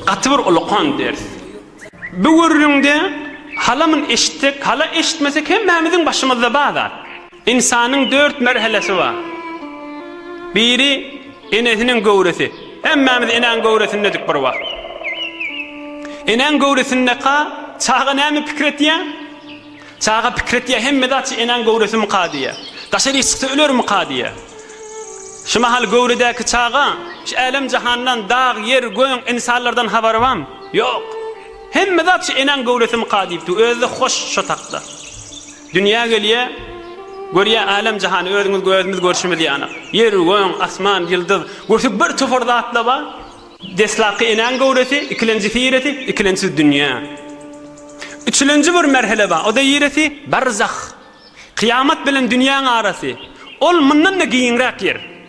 Gaty bir ulukan ders. Bu gürrüňde halamyn eşitsek, hala eşitmesek hemmämiziň başymyzda bar zat. Ynsanyň dört merhelesi bar. Biri, enesiniň göwresi. Hemmämiz enäň göwresindedik bir wagt. Enäň göwresindeka çaga näme pikir etýär? Çaga pikir etýär, hemme zat şu enäň göwresimika diýýär. Daşaryk çyksa ölermika diýýär. Şu mahal göwredäki çaga şu älem-jahandan, dag, ýer, göň, ynsanlardan habary barmy? Ýok. Hemme zat şu enäň göwresimika diýipdi. Özi-de hoş şo takda. Dünýä gelýä, görýä älem-jahany, özüňiz gözümiz görşümiz ýanak. Ýer, göň, asman, ýyldyz, götük bir topar zatla bar. Deslapky enäň göwresi, ikilenjisi ýeresi, ikilençsiz dünýä. Üçülenji bir merhele bar, o-da ýeresi, barzah. Kyýamat bilen dünýäň arasy. Ol mundan-da giňräk ýer.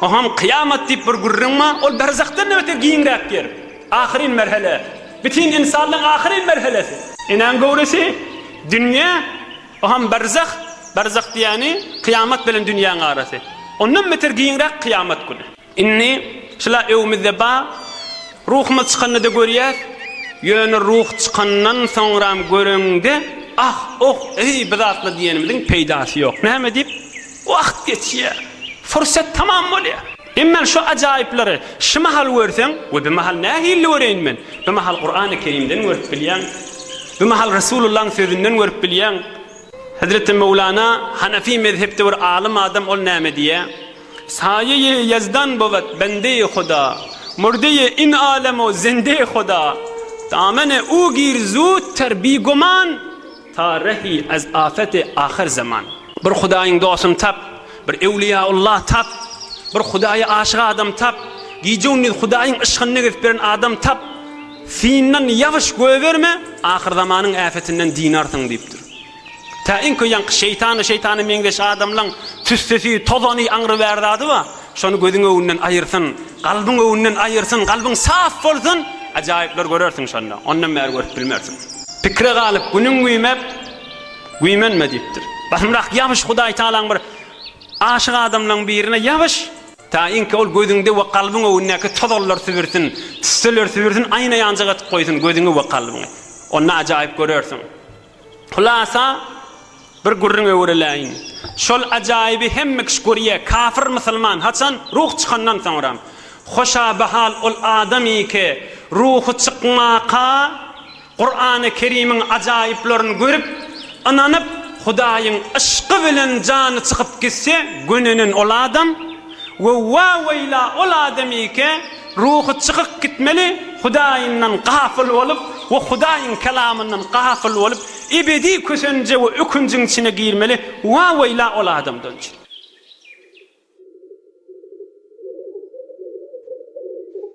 Oňam kyýamat diýip bir gürrüň bar, ol berzahdan nebete giňräk ýer. Ahyryn merhele. Bütin ynsanlygyň ahyryn merhelesi. Enäň göwresi, dünýe, oňam berzah, berzah diýýäni, kyýamat bilen dünýäň arasy. Ondan beter giňräk kyýamat güni. Indi şula öwmüzde bar, ruhumyz çykanda-da görýäs, ýöne ruh çykandan soňram göreňde, ah, oh, eý, bizatla diýenimiziň peýdasy ýok. Näme diýip? Wagt geçýär. Fursat tamam bolýar. Emma şu ajaýyplary şu mahal görseň, we bu mahal nähilli göreýin men? Bu mahal Kurany Kerimden görüp bilýäň. Bu mahal Resulullahyň sözünden görüp bilýäň. Hezreti Möwlana Hanefi mezhepde bir alym adam ol näme diýýär? Saýeýi ýezdan bowet bendeýi Huda, murdeýi in alem o zendeýi Huda. Damene u gir zut ter bigoman Tarehi ez afeti ahyr zaman. Bir Hudaýyň dostuny tap, bir Ewliýa Ullahy tap, bir Hudaýa aşyk adam tap, gije-gündiz Hudaýyň yşkynda gezip ýören adam tap, syndan ýabyş goýberme, ahyr zamanyň äpetinden dynarsyň diýipdir. Tä iň köýenki şeýtany, şeýtana meňzeş adamlaň tüssesi, tozany, aňry bär zady bar, şony gözüň öwünden aýyrsyn, Kalbyň öwünden aýyrsyn, kalbyň saf bolsun, ajaýyplar görersiň şonda, ondan bäri görüp bilmersiň. Pikire galyp, Günüň güýmep, güýmenme diýipdir. Basymrak ýabyş Hudaý Tagalaň bir aşyk adamlaň birine ýabyş! Taýynki ol gözüňde we kalbyň öwündäki tozallar sübürsin, tüsseler sübürsin, aýna ýanjak etip goýsun gözüňi we kalbyňy. Onda ajaýyp görersiň. Hulasa, bir gürrüň öwrüläýin. Şol ajaýyby hemme kişi görýä, kafir musulman, haçan? Ruh çykandan soňra. Hoşabahal ol adamyky, ruhy çykmaka, Kurany Kerimiň ajaýyplaryny görüp, ynanyp, Hudaýyň yşky bilen jany çykyp gitse, gönenen ol adam, We wa-weýla ol adamyke ruhy çykyk gitmeli Hudaýyndan gafyl bolup we Hudaýyň kelamyndan gafyl bolup ebedi kösenje we ökünjiň içine girmeli wa-weýla ol adamdan.